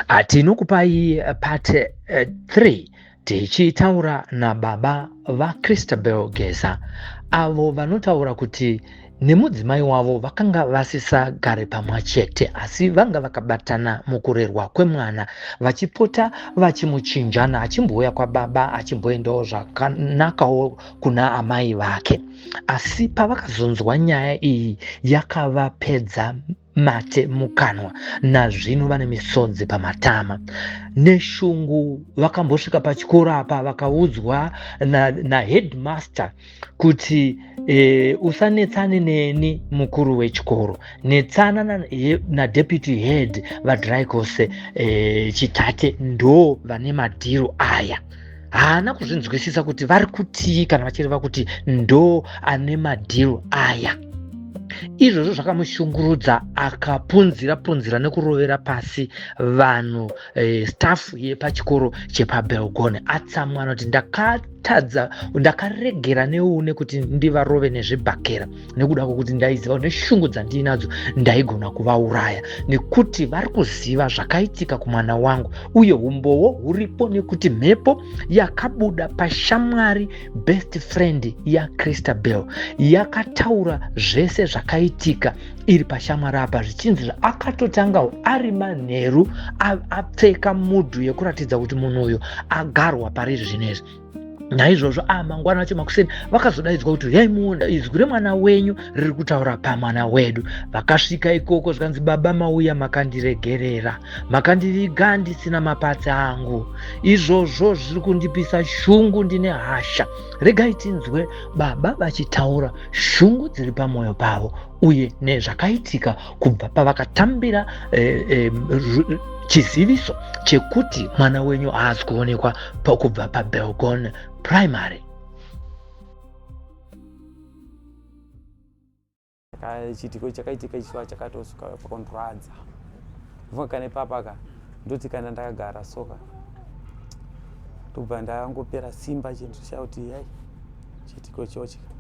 Ah, tinokupai eh, part 3 eh, tichitaura nababa vachristabel geza avo vanotaura kuti nemudzimai wavo vakanga vasisagare pamwe chete asi vanga vakabatana mukurerwa kwemwana vachipota vachimuchinjana achimbouya kwababa achimboendawo zvakanakawo kuna amai vake asi pavakazonzwa nyaya iyi yakavapedza mate mukanwa nazvino vane misodzi pamatama neshungu vakambosvika pachikoro apa vakaudzwa naheadmaster na kuti e, usanetsane neni mukuru wechikoro netsana nadeputy na head vadrykose e, eh, chitate ndo vane madhiro aya haana kuzvinzwisisa kuti vari kutii kana vachireva kuti ndo ane madhiro aya izvozvo zvakamushungurudza akapunzira punzira nekurovera pasi vanhu eh, staff yepachikoro chepabelgone atsamwa anoti ndakatadza ndakaregera neune kuti ndivarove nezvibhakera nekuda kwokuti ndaiziva kuti neshungu dzandiinadzo ndaigona kuvauraya nekuti vari kuziva zvakaitika kumwana wangu uye umbowo huripo nekuti mhepo yakabuda pashamwari best friend yacristabel yakataura zvese zvakaitika iri pashamwari apa zvichinzi zvaakatotangawo ari manheru apfeka mudhu yekuratidza kuti munhu uyu agarwa pari izvi zvino izvi naizvozvo a ah, mangwana acho makuseni vakazodaidzwa kuti huyai muunda izwi remwana wenyu riri kutaura pamwana wedu vakasvika ikoko zvikanzi baba mauya makandiregerera makandiviga ndisina mapatsi angu izvozvo zviri kundipisa shungu ndine hasha regai tinzwe baba vachitaura shungu dziri pamwoyo pavo uye nezvakaitika kubva pavakatambira eh, eh, chiziviso chekuti mwana wenyu haazi kuonekwa pakubva pabelgon primary chiitiko chakaitika ichiva chakatosuka pakondurwadza vunga kana ipapa ka ndoti kana ndakagara soka ndobva ndangopera simba chinhu chakuti yai chiitiko chochika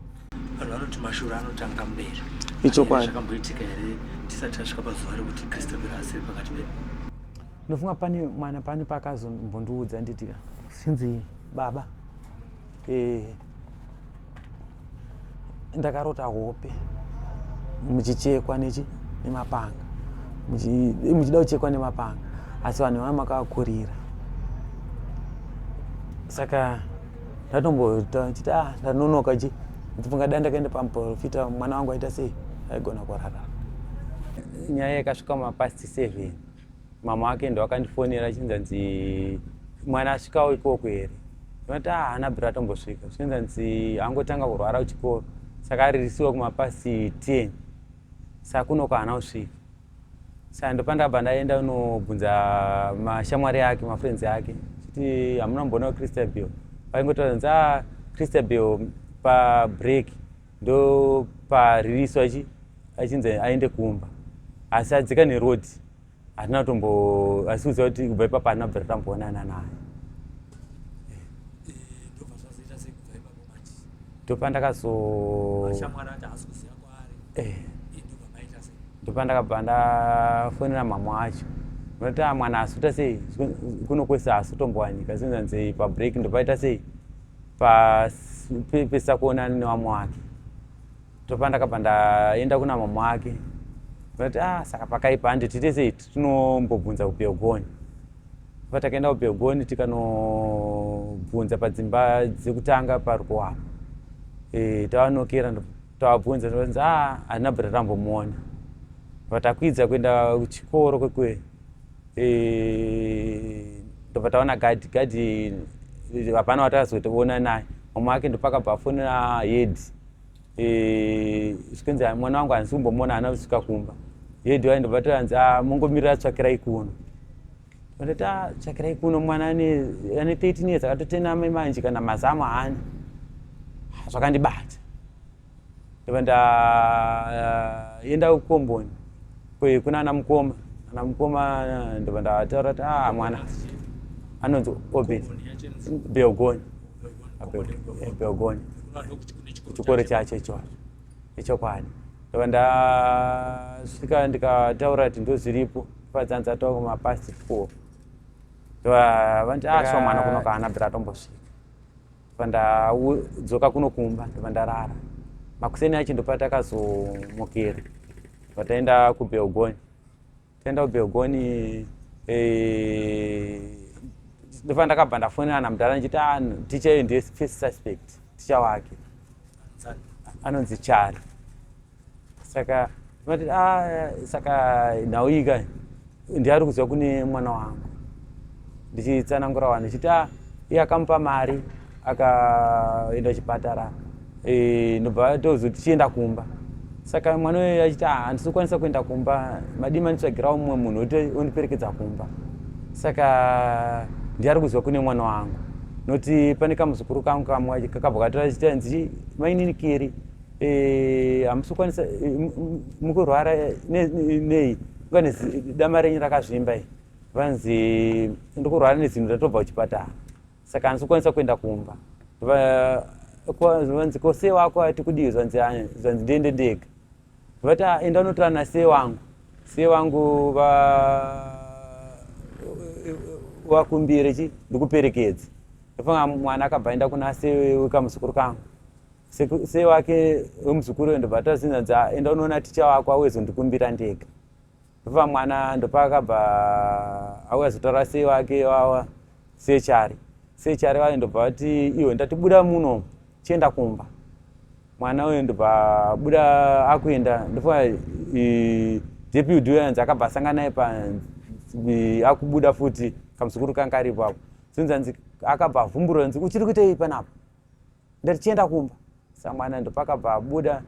vanhu vanoti mashura anotanga mberi ichokwadi zvakamboitika here tisati tasvika pazuva rekuti christopher asiri pakati pedu ndofunga pane mwana pane paakazombondiudza nditi sinzi baba eh, ndakarota hope muchichekwa nechi nemapanga eh, muchida kuchekwa nemapanga asi vanhu vana makavakurira saka ndatomboita chiti ah ndanonoka chi ndifunga dai ndakaenda pamuprofita mwana wangu aita sei aigona kurara nyaya yakasvika mapast seven mama wake ndo akandifonera achinzanzi mwana asvikawo ikoko here ndinoti ah ana bra atombosvika zvichinzanzi angotanga kurwara kuchikoro saka aririsiwa kumapast ten sakunoka haana kusvika Saka ndopandabva ndaenda unobvunza mashamwari ake mafriends ake chiti hamuna mboona christabel vaingotaura nzi ah, christabel pabreak ndo paririswa ichi achinzi aende kumba asi adzika neroad hatina kutombo asi kuziva kuti kubva ipapo hatina kubva tatamboonana naye ndopandakazo eh. ndopandakabva ndafonera mhamha wacho noti ah, mwana asuta sei kuno kwese asutombowanika zinzanzei pabreak ndopaita sei pesa kuona nevamwe wake topa ndakabva ndaenda kuna mama wake noti a ah, saka pakaipa handi tiite sei tinombobvunza kubelgoni pa takaenda kubelgoni tikanobvunza padzimba dzekutanga parikuwapa e, tavanokera Tavabvunza tikanzi ah handina but tambomuona but akuidza kuenda kuchikoro kwekwe eh, ndobva taona gadhi gadhi hapana watazotoona naye mama wake ndopakabva afonera hedi eh, zvikanzi ah, mwana wangu handisi kumbomuona hana kusvika kumba hedi waindobva tikanzi ah, mongomirira tsvakirai kuno Ndati ah, tsvakirai kuno mwana ane ane 13 years akatotena mai manje kana mazamu haana. Ah, zvakandibata. Ndobva ndaenda eh, kukomboni kwe kuna ana mukoma. Ana mukoma eh, ndobva ndataura kuti ah mwana anonzi Obed Beogoni. Beogoni. Chikoro chacho ichocho. Ichokwadi. Ndobva ndasvika ndikataura kuti ndozviripo. Vadzanza to kuma past four. Ndova vanti ah so mwana kuno kana bra tombosvika. Vanda dzoka kuno kumba ndova ndarara. Makuseni acho ndopata kazomukira. Vataenda ku Belgoni. Taenda ku Belgoni eh ndova ndakabva ndafonera na mudhara ndichiti ah ticha ndiye first suspect. Ticha wake. Anonzi Chari. saka vati ah, saka nhau iyi kai ndiari kuziva kune mwana wangu ndichitsanangura wani chiti ah, iye akamupa mari akaenda chipatara e, ndobva tozo tichienda kumba saka mwana uyo achiti ah, handisi kukwanisa kuenda kumba madii manditsvagirawo mumwe munhu ondiperekedza kumba saka ndiari kuziva kune mwana wangu noti pane kamuzukuru kangu kamwe kakabva katora chiti hanzi mainini kiri Eh, hamusi kukwanisa eh, mukurwara eh, nei vane dama renyu rakazvimba i vanzi ndikurwara nezinhu ratobva kuchipatara saka handisi kukwanisa kuenda kumba vanzi ko se wako ati kudii zvanzi ah, zvanzi ndiende ndega vati ah, enda unotora na se wangu se wangu va vakumbire chi ndikuperekedze ndofanga mwana akabva enda kuna se wekamuzukuru kangu sei wake wemuzukuru uyo ndobva tazinza kuti ah, enda unoona ticha wako auye zondikumbira ndega ndobva mwana ndopaakabva auya zotaura sei wake wawa sechari sechari vaye ndobva vati iwe ndatibuda muno chienda kumba mwana uyo ndobva abuda akuenda ndofa deputy uyo anzi akabva asanga naye panzi akubuda futi kamuzukuru kanga aripo apo sinzi anzi akabva avhumburwa anzi uchiri kuitei panapa ndatichienda kumba samwana ndopakabva abuda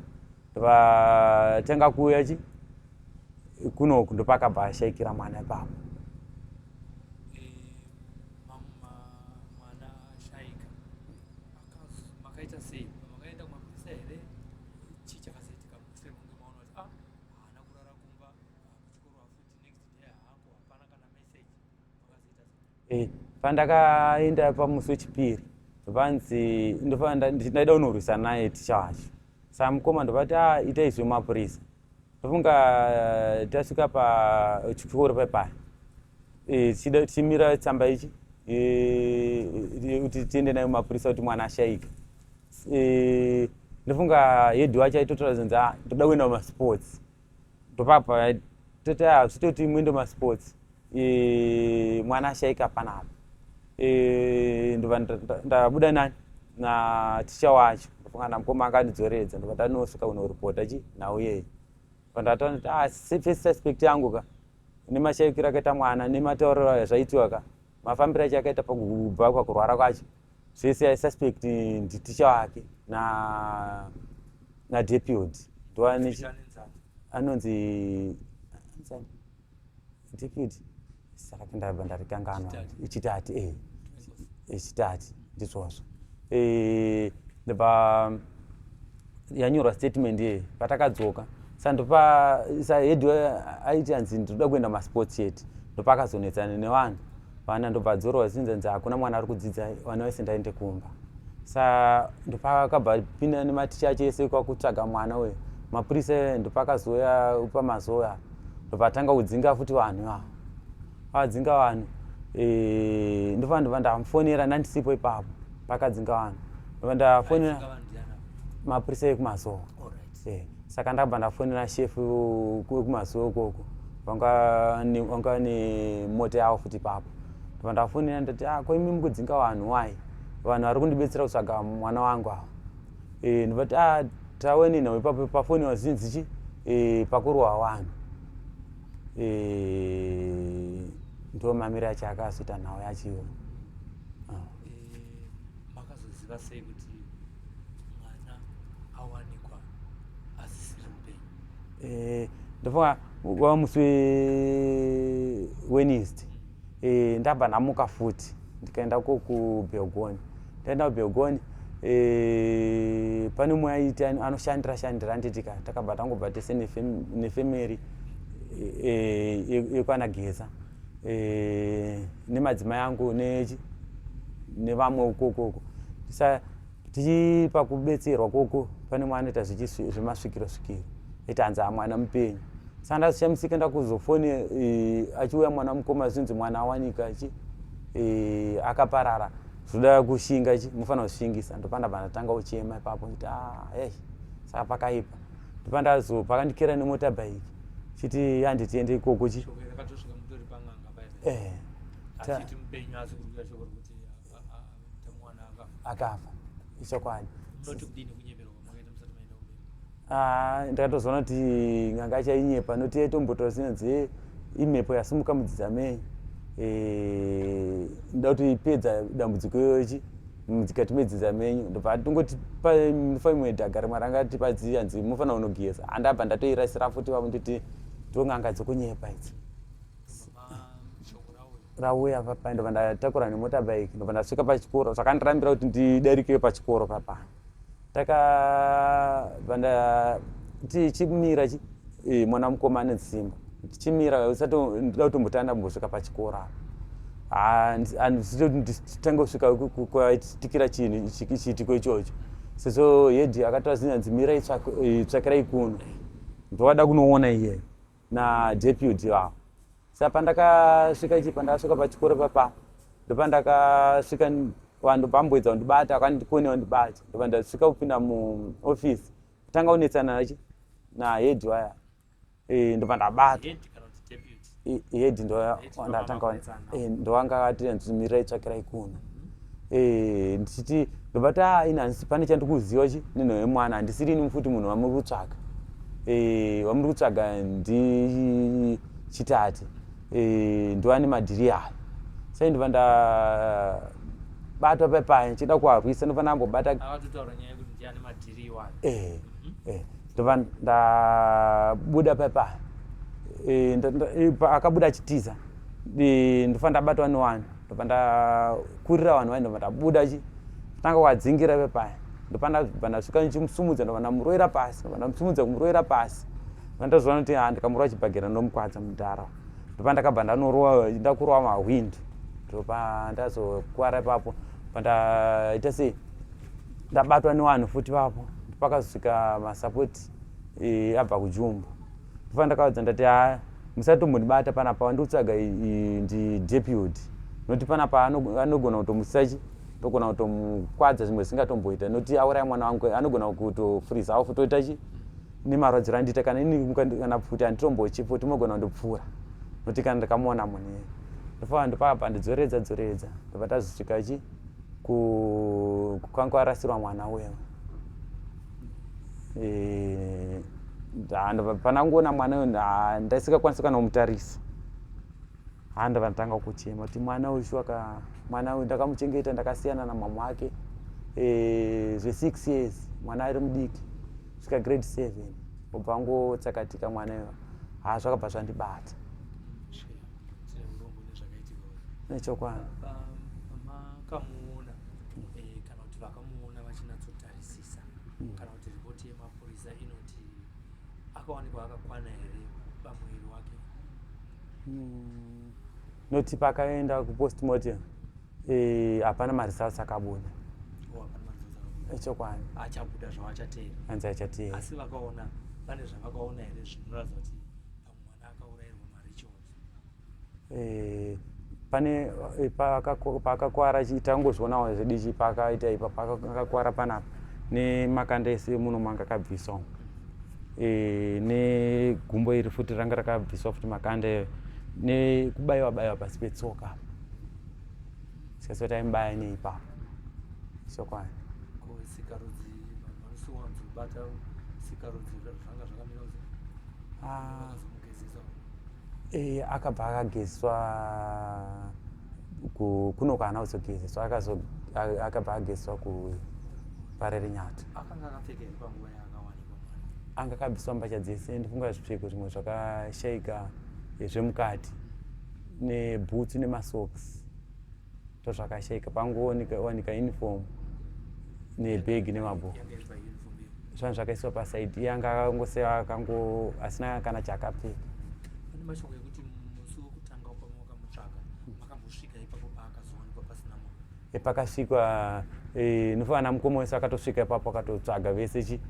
ndovatanga kuuya chi kunoku ndopakabva ashaikira mwana ipapo eh, pandakaenda pamusi wechipiri vanzi ndaida unorwisa naye ticha wacho saa mukoma ndovati a ah, ita izwi mapurisa ndofunga eh, tasvika pachikoro paipaya eh, tichimira tsamba ichi eh, kuti tiende nayo mapurisa kuti mwana ashaika ndofunga yedhi wacho aitotora zvinzi a ah, ndoda kuenda kumasports ndopapa toti ah, zvitoti imwe ndo masports e, mwana ashaika panapa e, ndova ndabuda nani na ticha wacho ndofunga na mukoma akandidzoredza ndova ndanosuka kunoripota chi nhau yeyi pandataona kuti ah, first aspect yangu ka nemashaikiro akaita mwana nematauriro ayo zvaitiwa ka mafambiro acho akaita pakubva kwakurwara kwacho zvese i suspect nditicha wake na na deputy ndoane anonzi deputy saka ndabva ndarikanganwa ichitati eh ichitati ndizvozvo eh ndaba yanyorwa statement ye patakadzoka sandopa sahead aiti anzi ndinoda kuenda masports yet ndopakazonetsana nevanhu vana ndobva adzorwa zvinzi nzi hakuna mwana ari kudzidza vana vese ndaende kumba sa ndopakabva pinda nematicha acho ese kwakutsvaga mwana uyo mapurisa ndopakazoya pamazoya ndovatanga kudzinga futi vanhu ivavo vakadzinga vanhu eh, ndofana ndova ndamufonera ndandisipo ipapo pakadzinga vanhu ndova ndafonera mapurisa ekumazowa Eh, saka ndakabva ndafonera shefu wekumazuva ukoko vanga nemota yavo futi papo ndobva ndafonera ndati ah, ko imi mukudzinga vanhu wai vanhu vari kundibetsera kutsvaga mwana wangu ava eh, ndobva ti ah, tawe nenhau ipapo pafoni vazhinzi chi eh, pakurohwa vanhu ndo mamiri acho akazoita nhau yacho iyoyo ah. makazoziva sei kuti ndofunga wava musi wednesday eh, ndabva ndamuka futi ndikaenda ko kubelgoni ndaenda kubelgoni eh, pane umwe aiti anoshandira shandira anditika takabva tangobva tese nefamily eh, yekwana geza eh, nemadzimai angu nevamwe ukoko uko tichi pakubetserwa koko pane mwana ita zvemasvikiro svikiro ita hanzi amwana mupenyu saka ndazishamisika ndakuzofone eh, achiuya mwana mukoma zvinzi mwana awanika chi eh, akaparara zvoda kushinga chi mufanira kushingisa ndopanda pandatanga uchema ipapo ita ah, ei saka pakaipa pandazo pakandikera nemota bike chiti handi tiende ikoko chi eh, akafa ichokwadi ah, ndakatozoona kuti nganga chainyepa noti yaitombotara sinanzi eh, imhepo yasimuka mudzidzamei eh, nda kuti ipedza dambudziko iyoyochi mukati medzinza menyu ndobva atongoti munofa imwe dhaga rimwe ranga tipadzi hanzi munofanira kunogeza handabva ndatoirasira futi vavo nditi ndon'anga dzokunyepa idzi rauya papa ndobva ndatakura nemotabike ndobva ndasvika pachikoro zvakandirambira kuti ndidarikire pachikoro papa takabva ndati chimira chi eh, mwana mukoma ane dzimba tichimira usati ndida kutombotanga ndambosvika pachikoro apa handitanga kusvika kwaitikira chinhu chiitiko ichocho sezvo hedi akataura zinyanzi mira itsvakirai kuno ndovada kunoona iyeyo nadeputy vavo sa pandakasvika ichi pandakasvika pachikoro papa ndopandakasvika vanhu pamboedza kundibata akandikone wandibata ndopa ndasvika kupinda muoffice kutanga kunetsana nachi nahead waya e, ndopa ndabata head ndoandatanga e, ndovanga ati anzimira itsvakirai kuno eh, ndichiti ndobva ta inansi pane chandikuziva chi nenhau yemwana handisiri ini mufuti munhu vamuri kutsvaga eh, vamuri kutsvaga ndi chitati eh, ndovane madhiri ayo sai ndova ndabatwa pepaya ndichida kuarwisa ndova ndambobata eh, eh, ndova ndabuda pepaya eh, nda- nda- eh, pa- akabuda achitiza eh, ndofa ndabatwa newani ndobva ndakurira vanhu vai ndobva ndabuda chi tanga wadzingira ve paya ndobva ndabva ndasvika ndichimusumudza ndobva ndamuroira pasi ndobva ndamusumudza kumuroira pasi ndobva ndazoona kuti ha ndikamurowa chibhagera ndomukwadza mudhara ndobva ndakabva ndanorowa ndakurowa mahwind ndobva ndazokwara ipapo bva ndaita sei ndabatwa newanhu futi vapo pakazosvika masapoti eh, abva kujumbu ndofana ndakavaudza ndati ha musatombondibata panapa wandikutsvaga ndi deputy noti panapa anogona kutomusachi togona kutomukwadza zvimwe zvisingatomboita noti auraya mwana wangu anogona kutofuriza awo futoita chi nemarwadziro andiita kana ini kana pfuti anditombochipo timogona kundipfuura noti kana ndakamuona munhu iye ndofana ndopapa ndidzoredza dzoredza ndobva tazosvika chi kukanga arasirwa mwana uyo eh, panangoona mwana uyu ndaisingakwanisi kana kumutarisa haa ndava ndatanga kuchema kuti mwana uyu shuwaka mwana uyu ndakamuchengeta ndakasiyana namama wake eh, zvesix years mwana ari mudiki svika grade seven obva angotsakatika mwana uyu haa zvakabva zvandibata nechokwadi kuzotarisisa mm. kana kuti ripoti yemapurisa inoti akawanikwa akakwana here pamuviri wake mm. noti pakaenda kupostmortem eh, hapana e, maresults akabuda echokwadi oh, achabuda zvawachateera anzi achateera asi vakaona pane zvavakaona here zvinoratidza kuti Eh, pane eh, paakakwara tangozvionawo zvidichi paakaita ipa paakakwara panapa nemakanda ese muno manga akabviswa eh, negumbo iri futi ranga rakabviswa futi makanda iyo nekubaiwa baiwa pasi petsoka sikaso taimubaya neipa sokwani Musi wanzi kubata sikarudzi zvanga zvakamira kuti Ah, akazomugezesa. eh, akabva akagezwa ku- kuno kwaana kuzogezeswa akazo- a- akabva agezwa kuparerinyati Akanga akapfeka here panguva yaakawanikwa mwana? anga akabviswa mbasha dzese ndifunga zvipfeko zvimwe zvakashaika eh, zvemukati nebhutsu nemasocks ndozvakashaika pangowanika uniform nebhegi nemabhuku zvanga zvakaiswa pasaidi iye anga akangosewa akango asina kana chaakapfeka epakasvikwa eh, nofana mukoma wese akatosvika ipapo akatotsvaga vese chi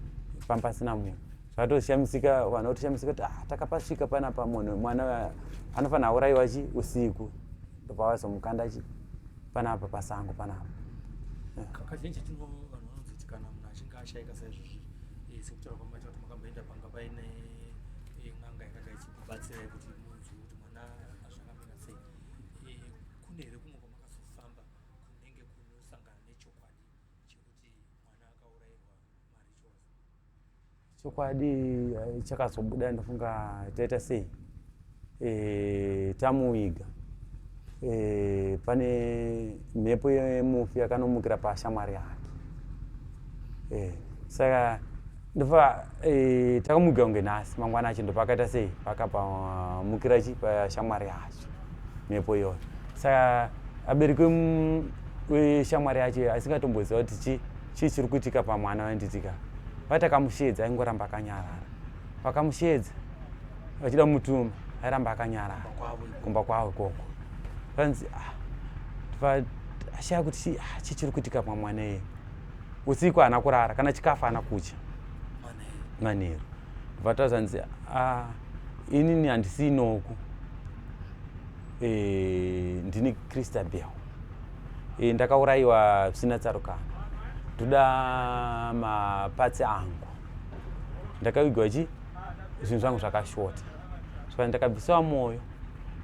pampasina munhu zvakatoshamisika vanhu vatoshamisika kuti ah, takapasvika panapa munhu mwana anofanira aurayiwa chi usiku ndobva vazomukanda chi panapa pasango panapa kakazhinji chatino vanhu vanonziti kana munhu achinge ashaika saizvozvi eh, sekutaura kwamaita kuti makamboenda panga paine eh, n'anga yakanga ichikubatsirai kuti munzwi kuti mwana azvakamira sei eh, kune here kumwe kwamakazofamba kunenge kunosangana nechokwadi chekuti mwana akaurairwa chokwadi eh, chakazobuda ndofunga taita sei e, tamuviga e, pane mhepo yemufi yakanomukira pashamwari yake e, saka ndofa e, takamuviga kunge nhasi mangwana acho ndopakaita sei pakapamukira chi pashamwari yacho mhepo iyoyo saka abereki weshamwari yacho asingatomboziva kuti chii chii chiri kuitika pamwana vainditika vati akamusheedza aingoramba akanyarara vakamusheedza vachida mutuma airamba akanyarara kumba kwavo ikoko vanzi ah, ashaya kuti chii ah, chiri kuitika pamwana iye usiku haana kurara kana chikafu haana kutya manheru ndobva tazanzi ah, inini handisiinoku e, ndini christabel e, eh, ndakaurayiwa zvisina tsarukano ndoda mapatsi angu ndakavigwa chi zvinhu zvangu zvakashota saka ndakabvisiwa mwoyo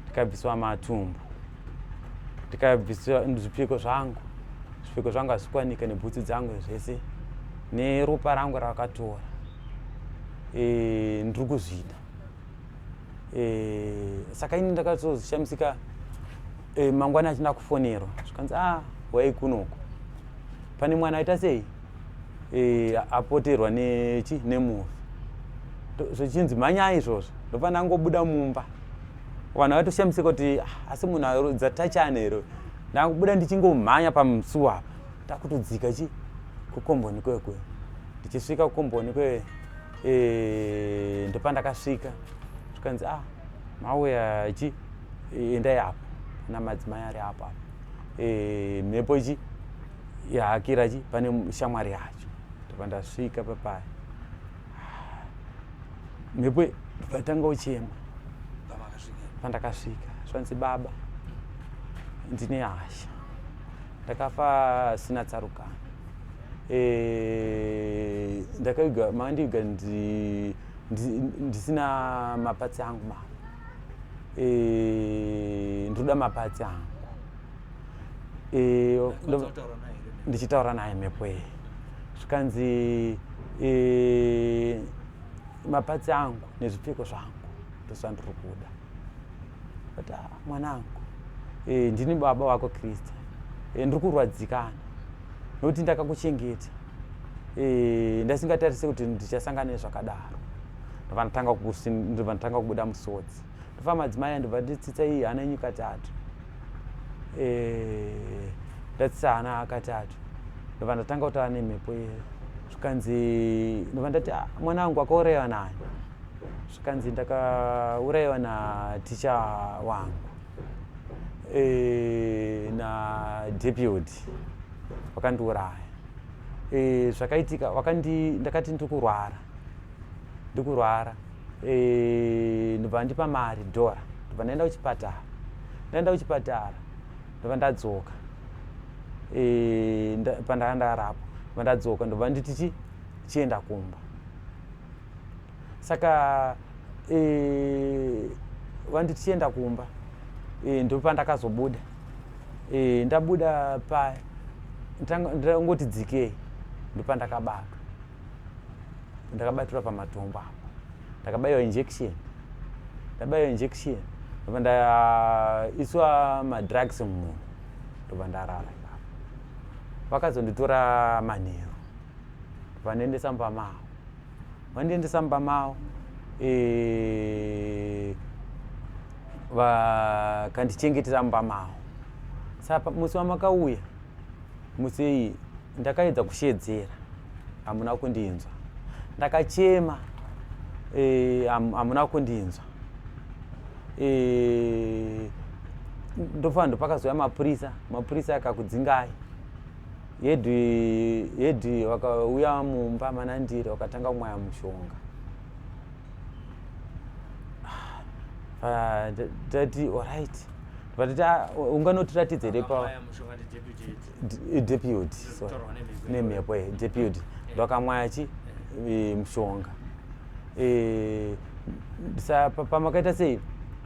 ndikabvisiwa matumbu ndikabvisiwa zvipfeko zvangu zvipfeko zvangu hazvikwanika nebhutsu dzangu zvese neropa rangu rakatora e, ndiri kuzvida e, saka ini ndakatozoshamisika e, mangwana achina kufonerwa zvikanzi a ah, wai kunoko pane mwana aita sei e, apoterwa nechi nemufi zvichinzi mhanyai izvozvo ndofanira ngobuda mumba vanhu vatoshamisika kuti ah, asi munhu arodza tachani here ndakubuda ndichingomhanya pamusuwa apa ndakutodzika chi kukomboni kwekwe ndichisvika kukomboni kwe e, ndopandakasvika zvikanzi ah mauya chi eh, endai apo na madzimai ari apo apo e, mhepo chi yahakira chi pane shamwari yacho ndopandasvika papaya ah, mhepo vatanga uchema pandakasvika zvanzi baba ndine hasha ndakafa sina tsaruka eh, ndakaiga maandiiga ndisina mapatsi angu ma eh, ndoda mapatsi angu eh, ndichitaura naye mhepo iyi zvikanzi mapatsi angu nezvipfeko zvangu ndozvandiri kuda but ah, mwanangu e, ndini baba vako krista e, eh, ndiri kurwadzikana nokuti ndakakuchengeta e, ndasingatarise kuti ndichasangana nezvakadaro ndovanotanga kubuda musodzi ndofa madzimai andibva nditsitsa iyi hana enyu katatu e, ndatsitsa hana katatu ndova ndatanga kutaura nemhepo ye zvikanzi ndova ndati ah, mwana wangu akauraiwa nayo zvikanzi ndakaurayiwa naticha wangu e, nadeputy wakandiuraya e, zvakaitika wakandi ndakati ndikurwara ndikurwara e, ndobva ndipa mari dhora ndobva ndaenda kuchipatara ndaenda kuchipatara ndobva ndadzoka e, nda, pandanga ndarapwa ndobva ndadzoka ndobva nditi chi chienda kumba saka e, vanditi chienda kumba e, ndopandakazobuda e, ndabuda paya ndangoti dzikei ndopandakabatwa ndakabatirwa pamatombo apo ndakabaiwa injection ndabaiwa injection ndobva ndaiswa madrugs mumhu ndobva ndarara vakazonditora manheru vandiendesa mumba mavo vandiendesa mumba mavo eh, vakandichengetera mumba mavo saka musi wamakauya musi iyi ndakaedza kusheedzera hamuna kundinzwa ndakachema eh, hamuna kundinzwa eh, ndofanira ndopakazouya mapurisa mapurisa akakudzingai Hedu hedu wakauya mumba mana ndiri wakatanga kumwaya mushonga. Ah, tati alright. Vatati ah, unganotiratidza here pa deputy nemhepo ye deputy vakamwaya chi eh, mushonga. Eh, sa pamakaita sei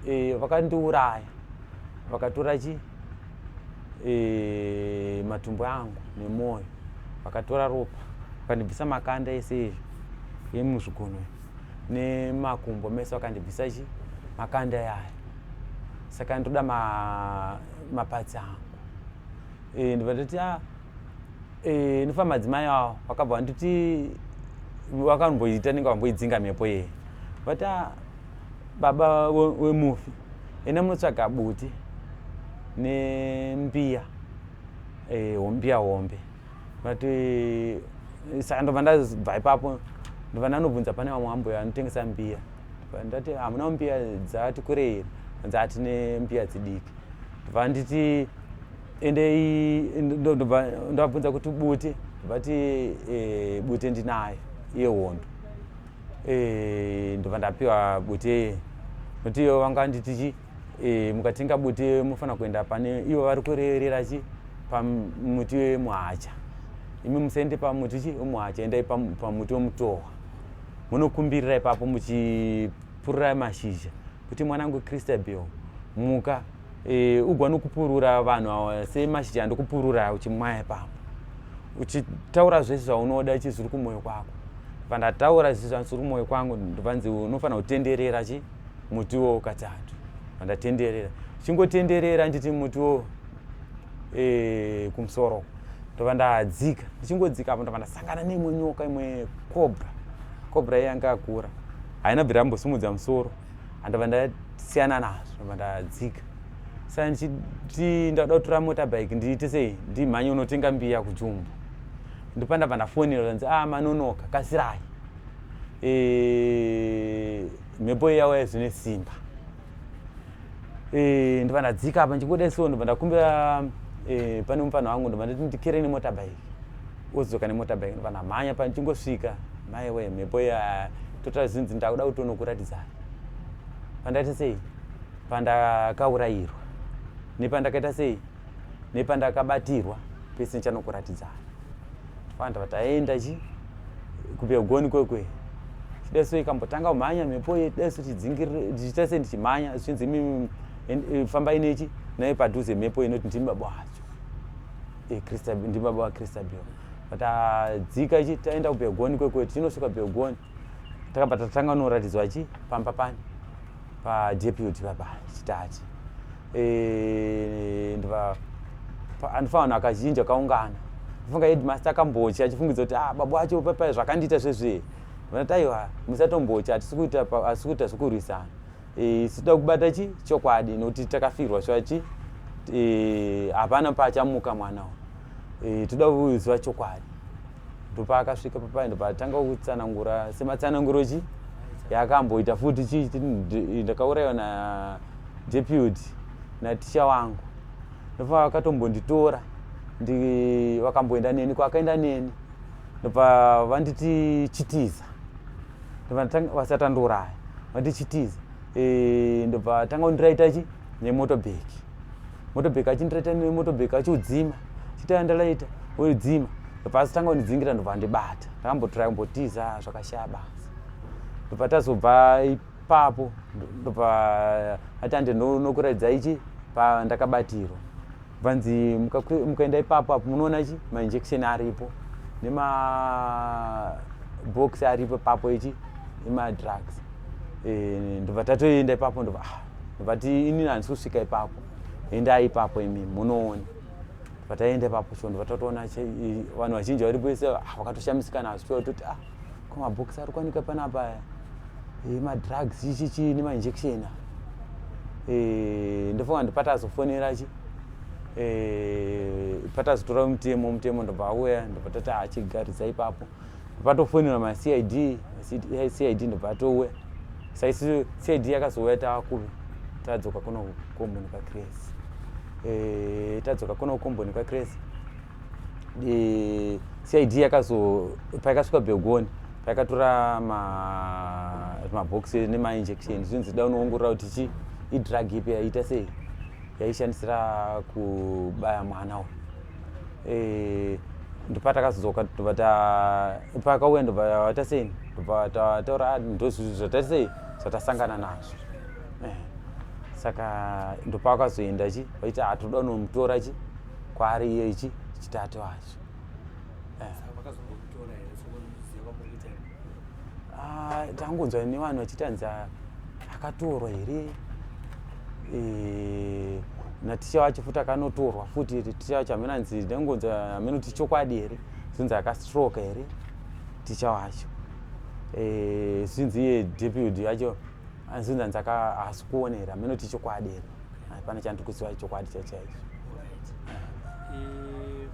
eh, vakandiuraya vakatora chii e, matumbu angu nemwoyo vakatora ropa vakandibvisa makanda ese emuzvigunwe nemakumbo mese vakandibvisa chi makanda yaya saka ndoda ma, mapatsi angu e, ndibva ndoti ah, e, ndofa madzimai awo vakabva vanditi vakamboita nenge vamboidzinga mhepo yeye vati ah, baba wemufi we enda munotsvaga buti nembiya eh, hombiya hombe vati eh, saka ndobva ndabva ipapo ndobva ndanobvunza pane vamwe ambuya anotengesa mbiya ndati hamuna mbiya dzati kurei dzati nembiya dzidiki ndobva nditi endei ndobva ndabvunza kuti buti vati eh, buti ndinayo yehondo e, ndobva ndapiwa bute nokuti ivo vanga vanditi chi e, mukatenga bute mufanira kuenda pane ivo vari kurerera chi pamuti wemuhacha imi musaende pamuti chi wemuhacha endai pamuti wemutohwa munokumbirira ipapo muchipurira mashizha kuti mwanangu christabel muka e, ugwa nokupurura vanhu awa semashija ndokupurura uchimwaya pamo uchitaura zvese zvaunoda chi zviri kumwoyo kwako pandataura zvi zviri kumwoyo kwangu ndovanzi unofanira kutenderera chi mutiwo katatu pandatenderera chingotenderera nditi mutiwo e, kumusoro ndova ndadzika ndichingodzika apo ndova ndasangana neimwe nyoka imwe cobra cobra yanga akura haina bvira yambosimudza musoro andobva ndasiyana nazvo ndobva ndadzika saka ndichiti ndakuda kutora mota bike ndiite sei ndimhanye unotenga mbiya kujumbu ndopa ndabva ndafonera kanzi a ah, manonoka kasirai e, mhepo iyauya zvine simba eh, ndobva ndadzika apa ndichingoda so ndobva ndakumbira eh, pane mupana wangu ndobva ndati ndikere nemotabike wodzoka nemotabike ndobva ndamhanya pa ndichingosvika mai we mhepo ya total zinzi ndakuda kutonokuratidza pandati sei pandakaurairwa nepandakaita sei nepandakabatirwa pese ndichanokuratidzana vanhu vati aenda chi kubegoni kwekwe chida so ikambotanga kumhanya mhepo ye dai so tidzingiriita se ndichimhanya zvichinzi imi e, famba inechi naye padhuze mhepo inoti ndimi baba wacho e, ndimi baba vakristabion but adzika ah, ichi taenda kubegoni kwekwe tichinosvika begoni takabva tatanga noratidzwa chi pamba pani padeputy baba chitati eh, ndiva andifa vanhu akazhinji akaungana ndifunga headmaster akambochi achifungidza kuti ah baba wacho papai zvakandiita zvezvee vanati aiwa musatombochi hatisi kuita zvekurwisana eh, isu toda kubata chi chokwadi nokuti takafirwa shuwa chi eh, hapana paachamuka mwana uyu toda kuziva chokwadi ndopaakasvika papai ndopatanga kutsanangura sematsananguro chi yaakamboita futi chii ndakaurayiwa nadeputy naticha wangu ndopa vakatombonditora vakamboenda neni kwakaenda neni ndopa vanditi chitiza ndopa vasatanduraya vanditi chitiza e, ndopa tanga kundiraita chi nemotobag motobag achindireta nemotobag achiudzima chita yandalaita udzima pasi tanga undidzingira ndobva ndibata ndakambotirai kumbotiza zvakashaya basa ndobva tazobva ipapo ndobva atande nokuraidza ichi pandakabatirwa vanzi mukaenda ipapo apo munoona chi mainjection aripo nemabox aripo papo ichi emadrugs eh, ndobva tatoenda ipapo ndobva ah, but ini handisi kusvika ipapo endai ipapo imi munoona pataenda ipapo so ndibva tatoona vanhu vazhinji varipo ese ah, vakatoshamisika nazvo tiwa toti ah ko mabhokisi ari kuwanika panapa eh, madrugs ichichi nemainjection eh, ndofunga ndipata azofonera chi eh, pata azotora mutemo mutemo ndobva auya ndobva tati achigaridza ah, ipapo patofoinirwa macid cid ndobva atouya saisi cid yakazouya taakuvi tadzoka kuno komboni kwacrazy eh, tadzoka kuno komboni kwacrazy eh, cid yakazo payakasvika begoni payakatora mabox ma nemainjection zvinzi da unoongorora kuti chii idrug ipi yaita sei yaishandisira kubaya mwana uyu eh, ndopatakazodzoka tobva pakauya ndobva tasei ndobva taura ah, ndozvizvi zvatasei zvatasangana nazvo eh, saka ndopakazoenda chi vaiti atoda ah, unomutora chi kwaari iye ichi chitatu acho eh. Ah, tangonzwa nevanhu vachitanzi ah, akatorwa here eh, naticha wacho futi akanotorwa futi ticha wacho hameno anzi ndangonzwa hameno kuti chokwadi here zvinzi akastroke here ticha wacho eh, zvinzi iye deputy yacho anzvinzi anzi haasi kuona here hameno kuti chokwadi here Ah, pane chandiri kuziva chokwadi chaicho chaicho Eh,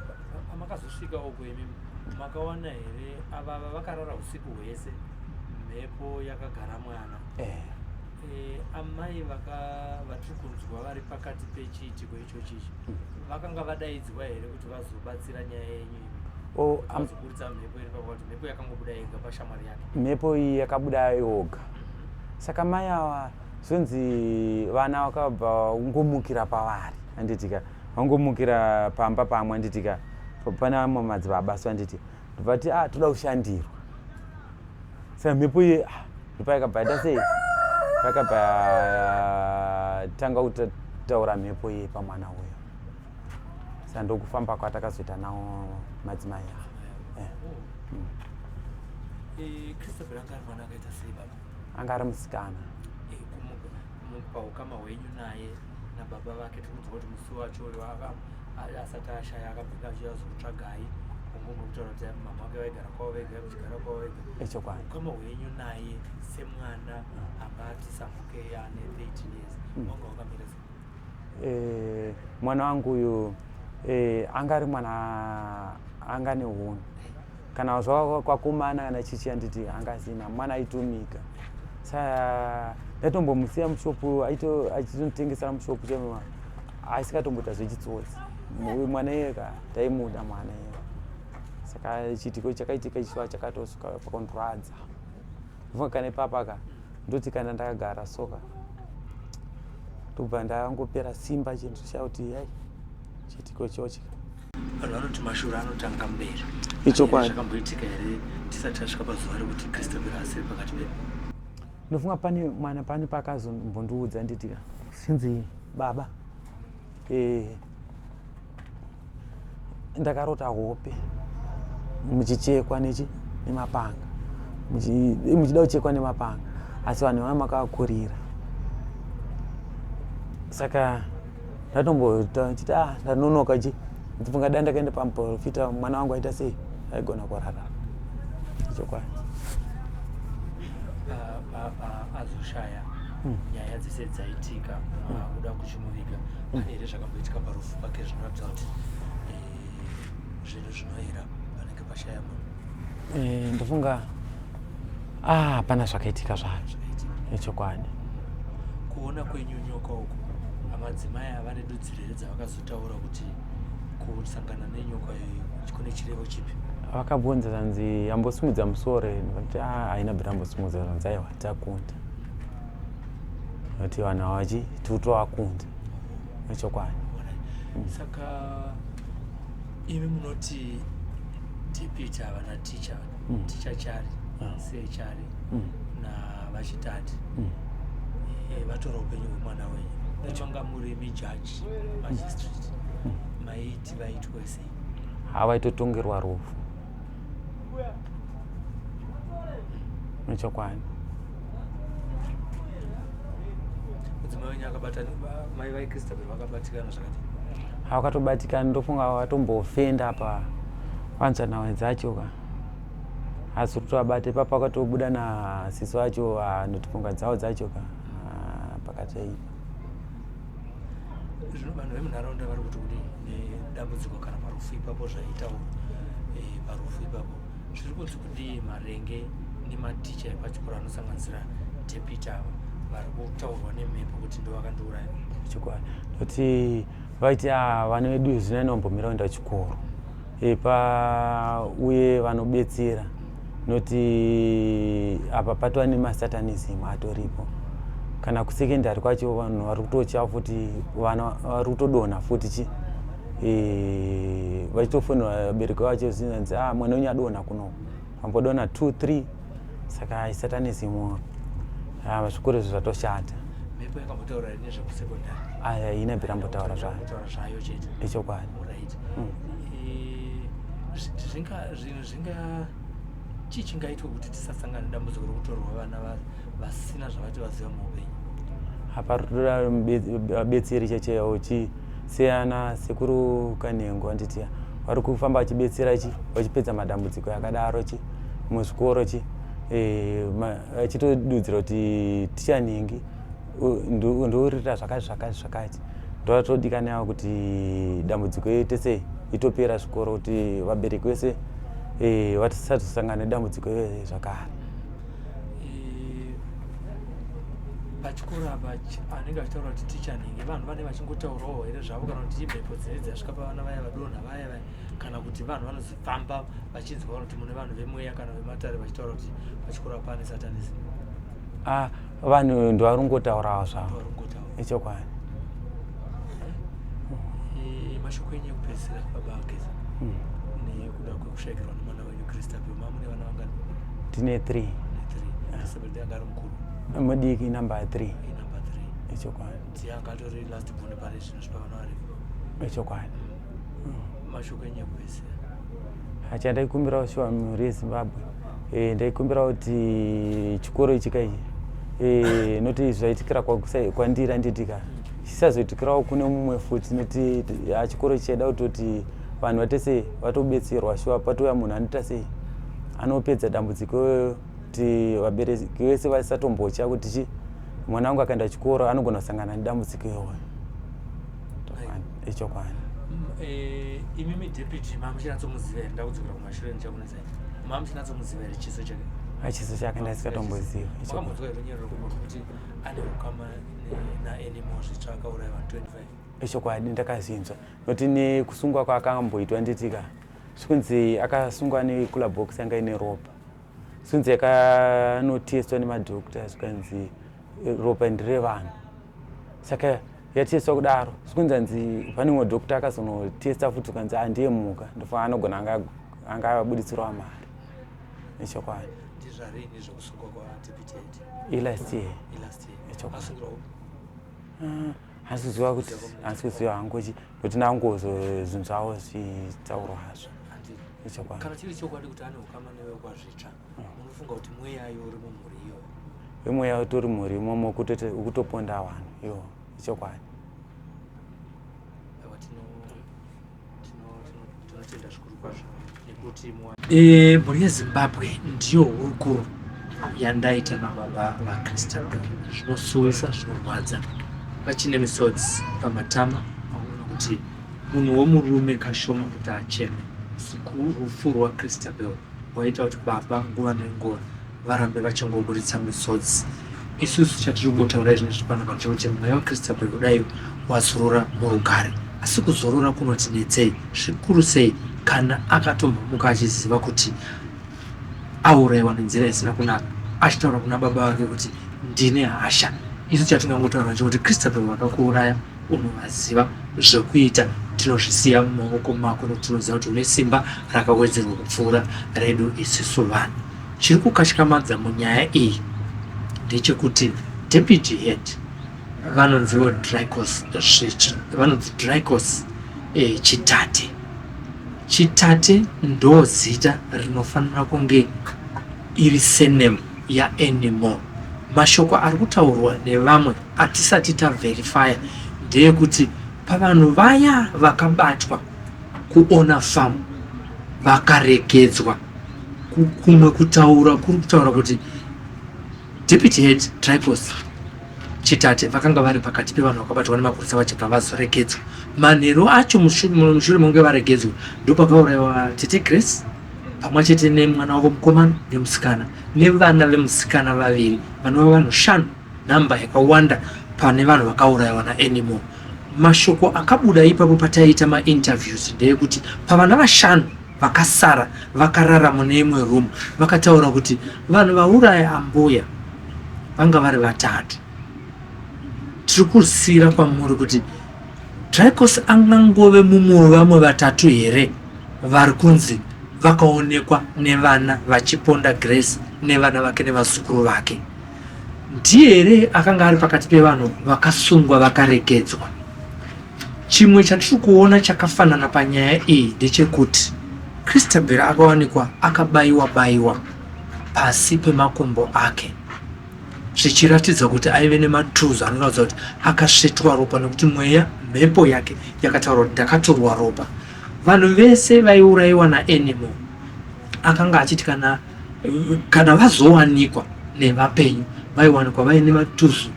pa- pamakazosvika uko imi makawana here ava ava vakarara usiku hwese mhepo yakagara mwana Eh, Eh, amai vaka vatiri kunzwa vari pakati pechiitiko ichochi ichi vakanga vadaidzwa here kuti vazobatsira nyaya yenyu imi o- Kuti am- vazoburitsa mhepo iri pakuti mhepo yakangobuda yega pashamwari yake mhepo iyi yakabuda yoga saka mai awa zvonzi vana vakabva ungomukira pavari anditika vangomukira pamba pamwe anditika pane vamwe madzibaba so anditi ndobvati a ah, toda kushandirwa saka mhepo iye ah, ndopa yakabva yaita sei yakabva yatanga kutaura mhepo iye pamwana uyo saka ndokufamba kwatakazoita nawo madzimai aa eh. hmm. eh, anga ari musikana eh, paukama hwenyu naye nababa vake tikuziva kuti musi wacho uyo asati ashaya akabvika achiya zokutsvagai kungongo kutaura kuti mama vake vaigara kwavo vega kuchigara kwavo vega echokwadi ukama hwenyu naye semwana ah. anga ati samuke ane 13 years hmm. wanga wakamira se eh, mwana wangu uyu eh, anga ari mwana anga ne hunhu kana zvava kwakomana kana chichi anditi angazina mwana aitomika sa ndatombomusiya mushopu aitinotengesera mushopu chema aisikatomboita zvechitsotsi mwana iyeka taimuda mwana iye saka chiitiko chakaitika ichiva chakatosuka pakondurwadza vua kana ipapa ka ndoti kana ndakagara soka tobva ndangopera simba chinhu chakuti yai chiitiko chochika vanhu vanoti mashura anotanga mberi ichokwadi zvakamboitika here tisati tasvika pazuva rekuti kristu mberi asiri pakati pedu ndofunga pane mwana pane paakazombondiudza nditi sinzi baba eh, ndakarota hope muchichekwa nechi nemapanga eh, muchida kuchekwa nemapanga asi vanhu vana makavakurira saka ndatomboita chiti ah ndanonoka chi ndifunga dai ndakaenda pamuprofita mwana wangu aita sei aigona kurara chokwadi azoshaya hmm. nyaya dzese dzaitika kuda kuchimuviga hmm. here zvakamboitika parufu pake zvinoratidza kuti eh, zvinhu zvinoera Pashaya mama. Eh, ndofunga ah hapana zvakaitika zvacho. Ichokwadi. Kuona kwenyu nyoka uko. Amadzimai ava nedudzirere dzavakazotaura kuti kusangana nenyoka iyi kune chirevo chipi? Vakabvunza zvanzi ambosimudza musoro kuti ah, haina bhira ambosimudza zvanzi aiwa takunda. Kuti vanhu havachi tiuto vakunda. Ichokwadi. Saka imi munoti dpt havana ticha mm. ticha chari ah. sechari mm. na vachitati mm. e, eh, vatora upenyu hwemwana wenyu vachonga muri mijaji magistrate mm. maiti vaitwe sei havaitotongerwa rufu nechokwadi mudzimai wenyu akabata mai vaikristabel vakabatikana zvakati hawakatobatikani ndofunga watombofenda pa panzvanawe dzacho ka asi kuti abate papa akatobuda nasiso acho anotifunga dzawo dzacho ka pakataipa zvino vanhu vemunharaunda vari kuti kudi nedambudziko kana parufu ipapo zvaitawo eh, parufu ipapo zviri kunzi kudii marenge nematicha epachikoro anosanganisira depita ava vari kutaurwa nemhepo kuti ndo vakandiuraya chokwadi nekuti vaiti ah, vana vedu zvinai nombomirao enda chikoro epa uye vanobetsera noti apa patova nemasatanism atoripo kana kusekendari kwacho vanhu vari kutotya futi vana vari kutodonha futi chi e, vachitofonera vabereki vacho zinanzi ah, mwana wenyu adonha kuno vambodona 2 3 saka isatanism waro ah, zvikuru izvi zvatoshata mhepo yakambotaura here nezvekusekondari aya ah, ine bira mbotaura zvayotaura zvayo chete ichokwadi right mm. eh, zvinga zvinhu zvinga chii chingaitwa kuti tisasangana dambudziko rokutorwa vana vasina zvavati vaziva muupenyu hapabetseri checheyawo chii seana sekuru kanhengo anditi vari kufamba vachibetsera chi vachipedza madambudziko yakadaro chi muzvikoro chi eh, vachitodudzira kuti ticha nhingi ndourira zvakati zvakati zvakati ndovatodikanawo kuti dambudziko yete sei itopera zvikoro kuti vabereki vese eh, vatisazosangana nedambudziko yezvakare pachikoro apa anenge achitaura kuti ticha nhingi vanhu vane vachingotaurawo here zvavo kana kuti imhepo dzine dzasvika pavana vaya vadonha vaya vaya kana kuti vanhu vanozifamba vachinzwa kana kuti mune vanhu vemweya kana vematare vachitaura kuti pachikoro apa ane satanism ah, vanhu ndovaringotaurawo zvavo ichokwadi eh, eh, mashoko enyu ekupedzisira baba akeza hmm. nekuda kwekushayikirwa nemwana tine three mudiki number three ichokwadi ichokwadi hacha ndaikumbirawo shuwa mhuri yezimbabwe eh, ndaikumbirawo kuti chikoro ichi kai eh, noti zvaitikira kwandira nditika chisazoitikirawo kune mumwe futi noti ah, chikoro chichaida kutoti vanhu vate sei vatobetserwa shuwa patouya munhu anoita sei anopedza dambudziko iyoyo kuti vabereki vese vasatombotya kuti chi mwana wangu akaenda chikoro anogona kusangana nedambudziko iyoyo ichokwani mm, eh, imimi deputy mamuchinatsomuziva here ndakudzokera kumashure ndichakunetsa mamuchinatsomuziva here chiso chake achiso chake ndaisingatomboziva ichokwani runyero rekuti kuti ane ukama naanimo zvitsvaka uraiva 25 ichokwadi ndakazvinzwa not nekusungwa kwaakamboitwa nditika zvikunzi akasungwa necooler box yanga ine ropa zvikunzi yakanotestwa nemadoctor zvikanzi eh, ropa ndire vanhu saka yatestwa kudaro zvikunzi anzi pane mumwe doctor akazonotesta futi ukanzi andiye muka ndofa anogona anga abuditsirwa mari nechokwadi ilast year ah. hasi kuziva kuti hasi kuziva hangu kuti kuti nangozo zvinhu zvavo zvitaurwa hazvo ichokwadi kana chiri chokwadi kuti ane ukama newe kwazvitsva mm. unofunga kuti mweya yo uri mumhuri iyo imweya utori mhuri imomo ukutoponda vanhu yo ichokwadi tinotenda zvikuru kwazvo nekuti eh, mhuri yezimbabwe ndiyo hurukuro yandaita nababa vakristu zvinosuwisa zvinorwadza vachine misodzi pamatama aona kuti munhu womurume kashoma kuti acheme rufu rwakristabel waita kuti baba nguva nenguva varambe vachingoburitsa misodzi isusu chatiri kungotaura izvi nezvipano pacho kuti mweya wekristabel kudai wazorora murugare asi kuzorora kunotinetsei zvikuru sei kana akatomhomuka achiziva kuti auraiwa nenzira isina kunaka achitaura kuna baba vake kuti ndine hasha isu chatingangotaura chekuti kristabel vakakuuraya unovaziva zvekuita tinozvisiya mumaoko mako nokuti tinoziva kuti une simba rakawedzerwa kupfuura redu isisu vanhu chiri kukatyamadza munyaya iyi ndechekuti deputy head vanonziwo dricos vanonzi dricos eh, chitate chitate ndozita rinofanira kunge iri surname ya Anymore. Mashoko ari kutaurwa nevamwe atisati ta verifyer ndeekuti pavanhu vaya vakabatwa ku Ona Farm vakaregedzwa kumwe kutaura kuri kutaura kuti Deputy Head Tripos Chitate vakanga vari pakati pevanhu vakabatwa nemapurisa vachibva vazoregedzwa manheru acho mushure mekunge varegedzwa ndopakauraiwa Tete Grace pamwe chete nemwana wavo mukomana nemusikana nevana vemusikana vaviri vanova vanhu shanu nhamba yakawanda pane vanhu vakaurayiwa naanimo mashoko akabuda ipapo pataiita mainterviews ndeyekuti pavana vashanu vakasara vakarara mune imwe room vakataura kuti vanhu vauraya ambuya vanga vari vatatu tiri kusiyira kwamuri kuti Drykos angangove mumwe wevamwe vatatu here vari kunzi vakaonekwa nevana vachiponda Grace nevana vake nevazukuru vake? Ndiye here akanga ari pakati pevanhu vakasungwa vakaregedzwa? Chimwe chatiri kuona chakafanana panyaya iyi ndechekuti Christabel akawanikwa akabayiwa-bayiwa pasi pemakumbo ake. zvichiratidza kuti aive nematools anoratidza kuti akasvetwa ropa nekuti mweya mhepo yake yakataura kuti ndakatorwa ropa vanhu vese vaiurayiwa naanimo akanga achiti kana kana vazowanikwa nevapenyu vaiwanikwa vaine matuzu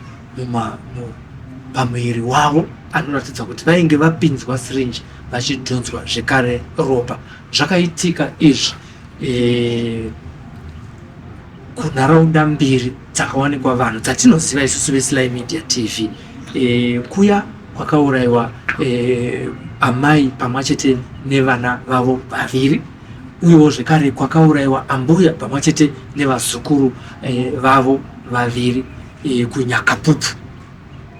pamuviri wavo anoratidza kuti vainge vapinzwa syringe vachidhonzwa zvekare ropa zvakaitika izvi e, Kunharaunda mbiri dzakawanikwa vanhu dzatinoziva isusu veSly Media TV e, kuya kwakaurayiwa e, amai pamwe chete nevana vavo vaviri uyewo zvekare kwakaurayiwa ambuya pamwe chete nevazukuru e, vavo vaviri e, kunyakapupu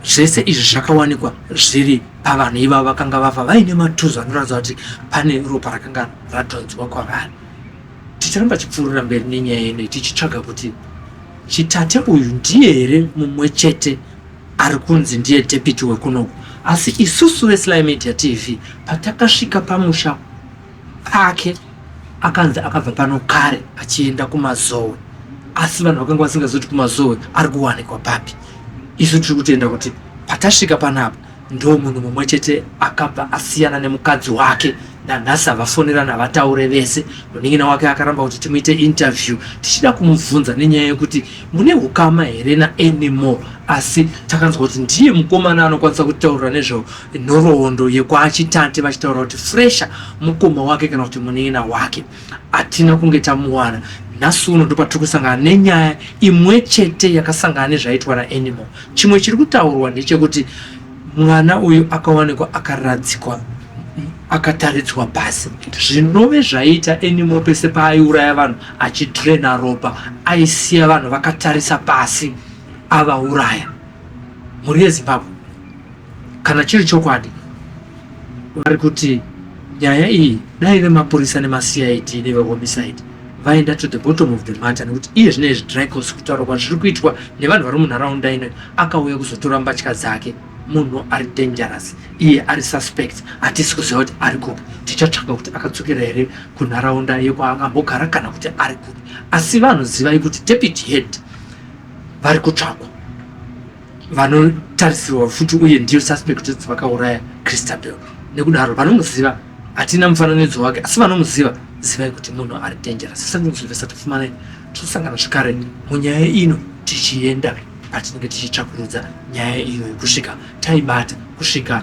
zvese izvi zvakawanikwa zviri pavanhu iva vakanga vafa vaine matuzo anoratidza kuti pane ropa rakanga radhonzwa kwavari Ticharamba tichipfuurira mberi nenyaya yedu tichitsvaga kuti Chitate uyu ndiye here mumwe chete ari kunzi ndiye deputy wekunoku asi isusu veSly Media TV patakasvika pamusha pake akanzi akabva pano kare achienda kumazowe asi vanhu vakanga vasingazoti kumazowe ari kuwanikwa papi isu tiri kutenda kuti patasvika panapa Ndomunhu mumwe chete akabva asiyana nemukadzi wake nanhasi havafonerana havataure vese. Munin'ina wake akaramba kuti timuite interview tichida kumubvunza nenyaya yekuti mune hukama here naAnymore asi takanzwa kuti ndiye mukomana anokwanisa kutaurira nezvenhoroondo yekwaChitate vachitaura kuti Fresha mukoma wake kana kuti munin'ina wake. Hatina kunge tamuwana. Nhasi uno ndopatiri kusangana nenyaya imwe chete yakasangana nezvaitwa naAnimal. Chimwe chiri kutaurwa ndechekuti mwana uyu akawanikwa akaradzikwa akataridzwa pasi zvinove zvaita Animal pese paaiuraya vanhu achidrena ropa aisiya vanhu vakatarisa pasi avauraya. mhuri yezimbabwe kana chiri chokwadi vari kuti nyaya iyi dai vemapurisa nemacid nevehomicide vaenda to the bottom of the matter nekuti iye zvine izvi dricos kutaura kwa zviri kuitwa nevanhu vari munharaunda ino akauya kuzotora mbatya dzake munhu ari dangerous iye ari suspect hatisi kuziva kuti ari kupi tichatsvaga kuti akadzokera here kunharaunda yekwaakambogara kana kuti ari kupi asi vanhu zivai kuti deputy head vari kutsvakwa vanotarisirwa futi uye ndiyo suspect kuti vakauraya christabel nekudaro vanomuziva hatina mufananidzo wake asi vanomuziva zivai kuti munhu ari dangerous sezvinoziva satifumanai tosangana zvekare munyaya ino tichienda patinenge tichitsvakurudza nyaya iyoyo kusvika taibata kusvika